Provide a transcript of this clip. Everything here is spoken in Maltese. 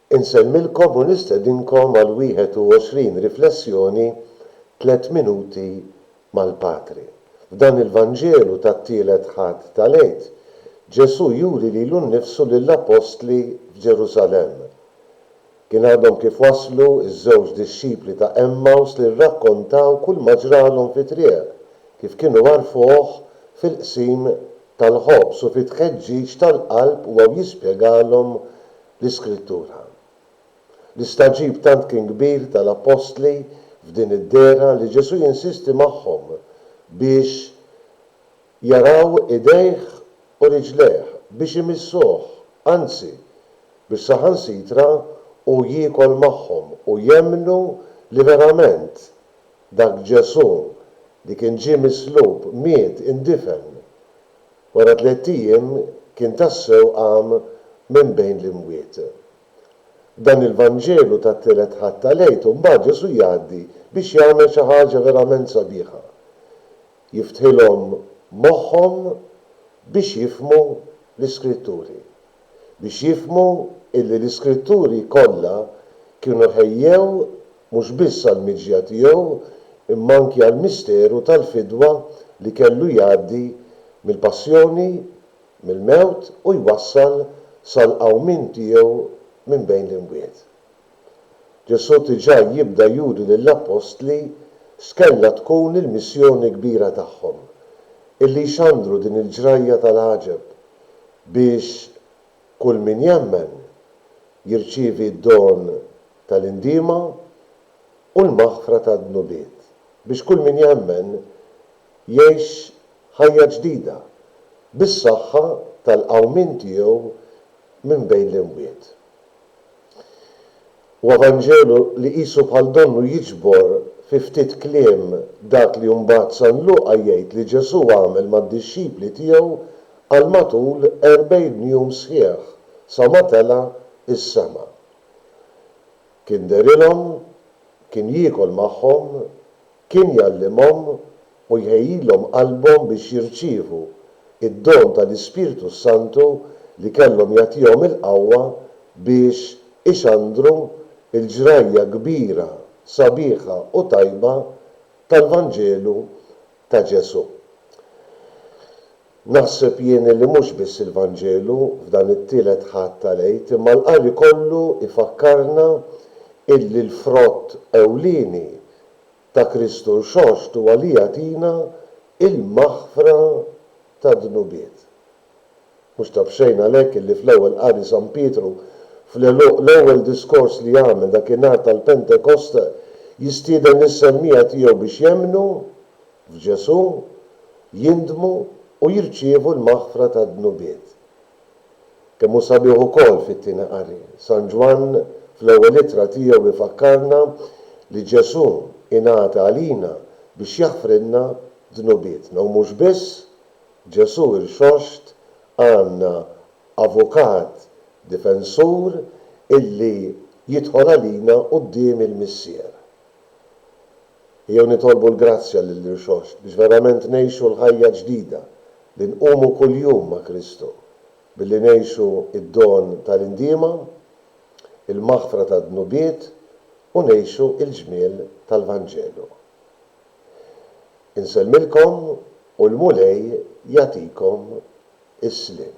Insemmilkom u nistedinkom għal 21 riflessjoni Tliet Minuti mal-Patri. F'dan il-Vanġelu tat-tielet Ħadd tal-Għid, Ġesù juri lilu nnifsu lill-appostli f'Ġerusalemm. Kien għadhom kif waslu ż-żewġ dixxipli ta' Għemmaws li rrakkontaw kulma ġralhom fit-triq, kif kienu għarfuh fil-qsim tal-ħobż u fit-tħeġġiġ tal-qalb huwa jispjegalhom l-Iskrittura. L-istagħġib tant kien kbir tal-appostli f'din id-dehra li Ġesù jinsisti magħhom biex jaraw idejh u riġlejh, biex imissuh, anzi, biex saħansitra hu jiekol magħhom u jemmnu li verament Dak Ġesù li kien ġie mislub, miet, indifen. Wara tliet ijiem kien tassew qam minn bejn l-imwiet. F'dan il-Vanġelu tat-Tielet Ħadd tal-Għid imbagħad Ġesù jgħaddi biex jagħmel xi ħaġa verament sabiħa. Jiftħilhom moħħhom biex jifhmu l-Iskritturi. Biex jifhmu illi l-Iskritturi kollha kienu ħejjew mhux biss għall-miġja tiegħu imma anki għall-misteru tal-fidwa li kellu jgħaddi mill-passjoni, mill-mewt u jwassal sal-qawmien tiegħu minn bejn l-imwiet. Ġesù diġà jibda juri lill-appostli x'kellha tkun il-missjoni kbira tagħhom, illi jxandru din il-ġrajja tal-għaġeb biex Kull min jemmen jirċievi d-don tal-indiema u l-maħfra tad-dnubiet, biex kull min jemmen jgħix ħajja ġdida, bis-saħħa tal-qawmien tiegħu minn bejn l-imwiet. Huwa Vanġelu li qisu bħal donnu jiġbor fi ftit kliem dak li mbagħad San Luqa jgħid li Ġesù għamel mad-dixxipli tiegħu għal matul erbgħin jum sħiħ sa ma tela' s-sema. Kien derilhom, kien jiekol magħhom, kien jgħallimhom u jħejjilhom qalbhom biex jirċievu d-don tal-Ispirtu s-Santu li kellhom jagħtihom il-qawwa biex ixandru l-ġrajja kbira, sabiħa u tajba tal-Vanġelu ta' Ġesù. Naħseb jien illi mhux biss il-Vanġelu f'dan it-Tielet Ħadd tal-Għid imma l-qari kollu jfakkarna illi l-frott ewlieni ta' Kristu Rxoxt huwa li jagħtina l-maħfra tad-dnubiet. Mhux ta' b'xejn għalhekk illi fl-Ewwel Qari San Pietru fl-għeluq l-ewwel diskors li jagħmel dak in-nhar tal-Pentekost jistieden lis-semmiegħa tiegħu biex jemmnu f'Ġesù, jindmu u jirċievu l-maħfra tad-dnubiet. Kemm hu sabiħ ukoll fit-Tieni Qari! San Ġwann fl-ewwel ittra tiegħu jfakkarna li Ġesù ingħata għalina biex jaħfrilna dnubietna. U mhux biss, Ġesù irxoxt għandna Avukat Difensur illi jidħol għalina quddiem il-Missier. jew nitolbu l-grazzja lill-Irxoxt biex verament ngħixu l-ħajja ġdida li nqumu kuljum ma' Kristu, billi ngħixu d-don tal-indiema, il-maħfra tad-dnubiet u ngħixu l-ġmiel tal-Vanġelu. Insellmilkom u l-Mulej jagħtikom is-sliem.